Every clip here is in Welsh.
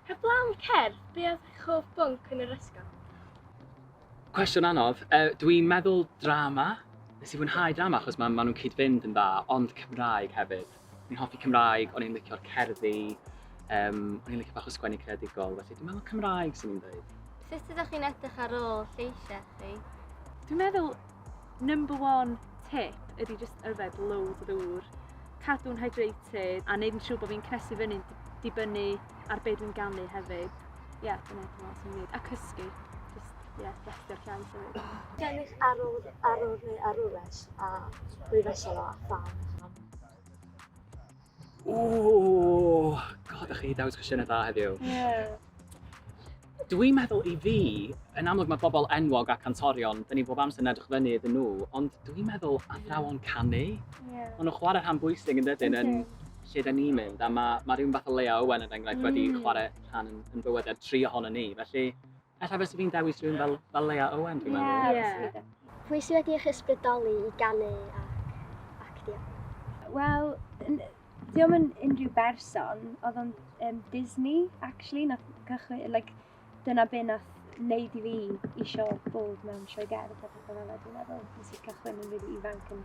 Heblaw cerdd, be oedd eich hoff bwnc yn yr ysgol? Cwestiwn anodd. Uh, Dwi'n meddwl drama. Nes i fwynhau drama achos maen ma nhw'n cyd-fynd yn dda, ond Cymraeg hefyd. O'n i'n hoffi Cymraeg, o'n i'n licio'r cerddi, um, o'n i'n licio bach o sgwennu creadigol, felly dwi'n meddwl Cymraeg sy'n i'n dweud. Sut ydych chi'n edrych ar ôl lleisiau chi? Dwi'n meddwl number one tip ydy just yfed loads o ddŵr, cadw'n hydrated a neud yn siŵr bod fi'n cnesu fyny'n dibynnu ar beth dwi'n ganu hefyd. Ie, yeah, dyna dwi'n meddwl sy'n neud. A cysgu. Just, ie, yeah, destio'r llais hefyd. Gennych arwr, arwr neu arwres a rwy'n fesel o a phan? Ooh, god, ych chi i dewis cwestiynau da heddiw. Yeah. Dwi'n meddwl i fi, yn amlwg mae bobl enwog a cantorion, dyn ni bob amser yn edrych fyny iddyn nhw, ond dwi'n meddwl athrawon canu. Yeah. Ond nhw'n chwarae rhan bwysig yn dydyn yn lle dyn ni'n mynd, a mae, mae rhywun fath o Lea Owen yn enghraifft mm. wedi chwarae rhan yn, yn bywyd ar tri ohono ni, felly Alla fes fi'n dewis rhywun fel, fel Leia Owen, dwi'n meddwl. Ie, yeah. yeah. Pwy sydd wedi eich ysbrydoli i ganu ac actio? Wel, diolch yn unrhyw berson, oedd o'n um, Disney, actually, na cychwyn, like, dyna be na wneud i fi eisiau bod mewn sioe gerdd a pethau fel yna, dwi'n meddwl, nes i cychwyn yn rili ifanc yn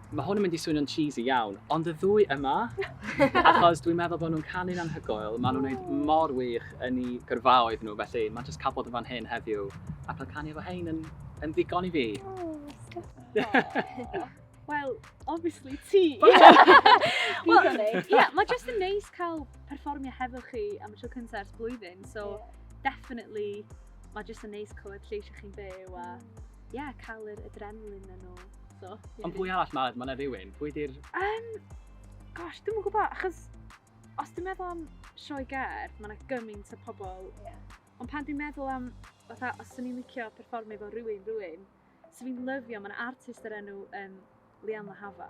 Mae hwn yn mynd i swnio'n cheesy iawn, ond y ddwy yma! Achos dwi'n meddwl bod nhw'n canu'n anhygoel, maen nhw'n wneud mor wych yn eu gyrfaoedd nhw, felly mae jyst cael bod yn fan hyn heddiw a cael canu efo hein yn, yn ddigon i fi. Wel, obviously ti! Wel, ie, mae jyst yn neis cael perfformio hefo chi am y tro cyntaf ers blwyddyn, so definitely mae jyst yn neis clywed lleisiau chi'n byw a yeah, cael yr adrenalin yn ôl. So, yeah. Ond pwy arall mae ma na rhywun? Pwy di'r... Um, gosh, dwi'n gwybod, achos os dwi'n meddwl am sioe ger, mae yna gymaint o pobl. Yeah. Ond pan dwi'n meddwl am, fatha, os dwi'n ni'n licio performio fo rhywun, rhywun, sy'n fi'n lyfio, mae'n artist yr enw um, Lian Lahava.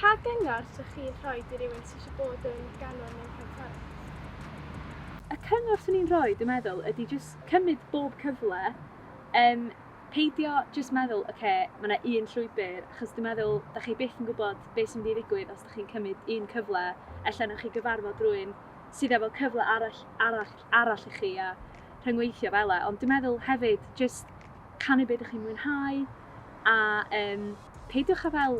Pa gyngor sych chi'n rhoi i rywun sy eisiau bod yn ganwr neu chantores? Y cyngor swn i'n rhoi dwi'n meddwl ydi jyst cymryd bob cyfle, yym peidio jyst meddwl ocê ma' 'na un llwybr achos dwi'n meddwl 'da chi byth yn gwybod be sy'n mynd i ddigwydd os 'da chi'n cymryd un cyfle, ella wnewch chi gyfarfod rywun sydd efo cyfle arall arall arall i chi a rhyngweithio fela ond dwi'n meddwl hefyd jyst canu be 'da chi'n mwynhau a yym Peidiwch â fel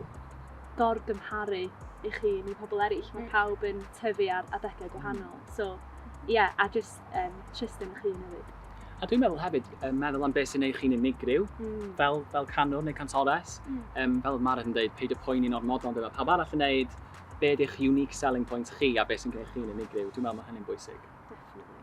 gor-gymharu eich hun i pobl eraill, mae pawb yn tyfu ar adegau gwahanol, so ie, a jyst yym trust yn eich hun hefyd. A dwi'n meddwl hefyd, yym meddwl am beth sy'n neu' chi'n unigryw, fel fel canwr neu cantores, yym fel oedd Maren yn deud, peidio poeni'n ormodol am be' ma' pawb arall yn neud, be' ydi'ch unique selling point chi a be' sy'n gneud chi'n unigryw, dwi'n meddwl ma' hynny'n bwysig. Definitely.